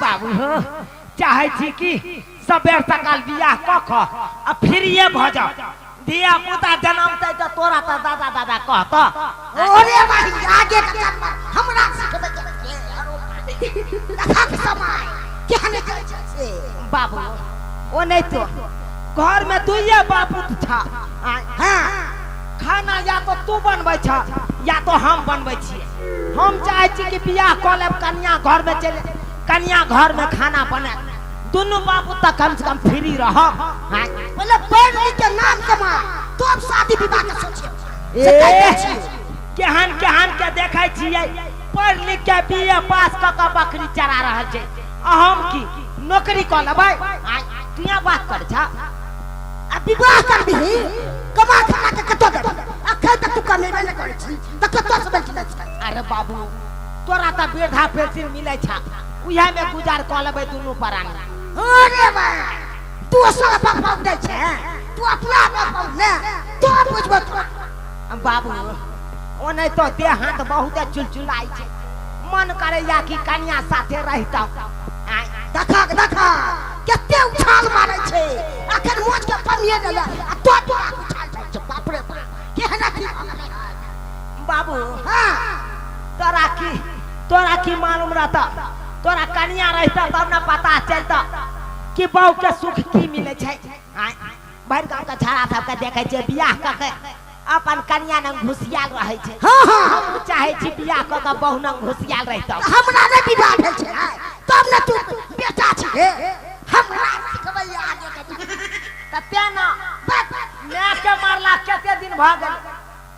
बाबू हो चाहे छी कि सबेर सकाल बियाह कऽ कऽ आ फ्रीए भऽ जाओ धिया पुता जन्मतै तऽ तोरा तऽ दादा दादा कहतऽ ओरे भाई आगे के काम पर हमरा सिखबे के के आरो देखक समय केहन चल छै से बाबू ओ नहीं तो घर में दुइये बापू था आ, हां खाना या तो तू बनबै छ या तो हम बनबै छियै हम चाहे छी कि बियाह कऽ लेब कन्या घर में चले कन्या घर में खाना बने दुनू बाबू तक कम से कम फ्री रह पहले पढ़ लिख के नाम कमा तो अब शादी विवाह के सोचिए से कहै छी। केहन केहन के देखै छियै पढ़ लिख के बीए पास कऽ कऽ बकरी चरा रहल छै आ हम की नौकरी कऽ लेबै आय, तू यहाँ बात कर छा आ विवाह कर दही कमा खा के कतऽ देबै अखन तक तू कमेबे नहि करै छी तऽ कतऽ से बैठ लै छै अरे बाबू तोरा तऽ वृद्धा पेंशन मिलै छै उहे में गुजार कऽ लेबै दुनू परानी अरे भाई तू सब बाप दे छै तू अपना बाप ने तो बुझबो तो बाबू ओ नहि तो देह हाथ बहुते चुलचुलाइ छै मन करैया कि कनिया साथे रहितौ आय, देखा देखा कते उछाल मारै छै अखन मोच के पनिए देला आ तो तो उछाल छै बाप रे बाप केहन अथी भऽ गेलै हन बाबू हाँ तोरा की तोरा की मालूम रहता तोरा कनिया रहता तब ने पता चलता कि बहू के सुख की मिले छै आँय, भरि गाँव के छाड़ा सबके देखे छै बियाह कऽ के अपन कनिया नंग घुसियाल रहे छै हाँ हाँ हम चाहे छी बियाह कऽ के बहू नंग घुसियाल रहितौ हमरा ने विवाह भेल छै आइ। तब ने तू बेटा छी हे हमरा सिखबैया आगे के तऽ तेना माय के मारला केते दिन भ गेल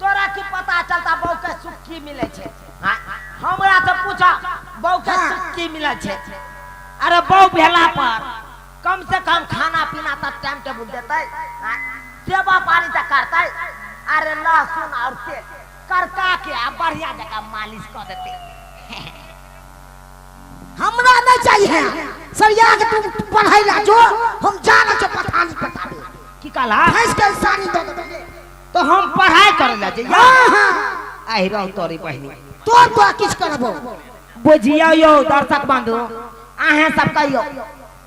तोरा की पता चलता बहू के सुख की मिले छे हाँ, हमरा से पूछा बहू के हाँ। सुख की मिले छे अरे बहू भेला पर कम से कम खाना पीना तक टाइम टेबुल देते हाँ, सेवा पानी तक करते अरे लहसुन और तेल करका के आ बढ़िया जगह मालिश कर देते हमरा न चाहिए सरिया के तू पढ़ाई ला जो हम जाना छ पठानी पठावे की कहला भैंस के सानी दे दे तो हम पढ़ाई करे ला जे हां हां आई रहो तोरी बहिनी तो तो किछ करबो बुझियो यो दर्शक बंधु अहे सब कहियो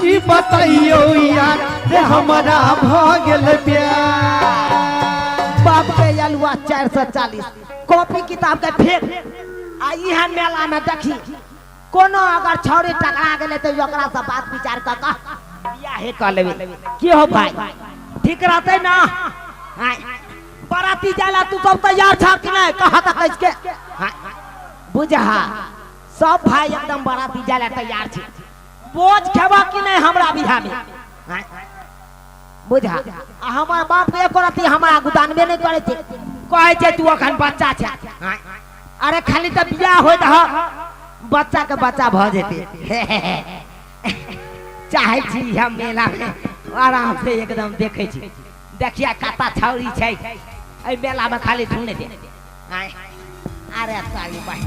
की बताइयो यार रे हमरा भ गेल प्यार बाप के अलुआ चारि सौ चालीस कॉपी किताब के फेर आ इहे मेला में देखी कोनो अगर छौरी टकरा गेले तो ओकरा से बात विचार क क बियाहे क लेबे की हो भाई ठीक रहते ना हाय बराती जाला तू सब तैयार छा कि नहीं कहा तक इसके हाय बुझा सब भाई एकदम बराती जाला तैयार छी बोझ खेबा कि नहीं हमरा बिहा में आँय? बुझा आ हमर बाप एक रति हमरा गुदानबे नहीं करे थे कहे छे तू अखन बच्चा छे आँय? अरे खाली तो बियाह हो रह बच्चा के बच्चा भ जेते हे, हे, हे। चाहे छी हम मेला में आराम से एकदम देखे छी देखिया काता छौरी छै ए मेला में खाली सुने दे आँय? अरे साली बहिन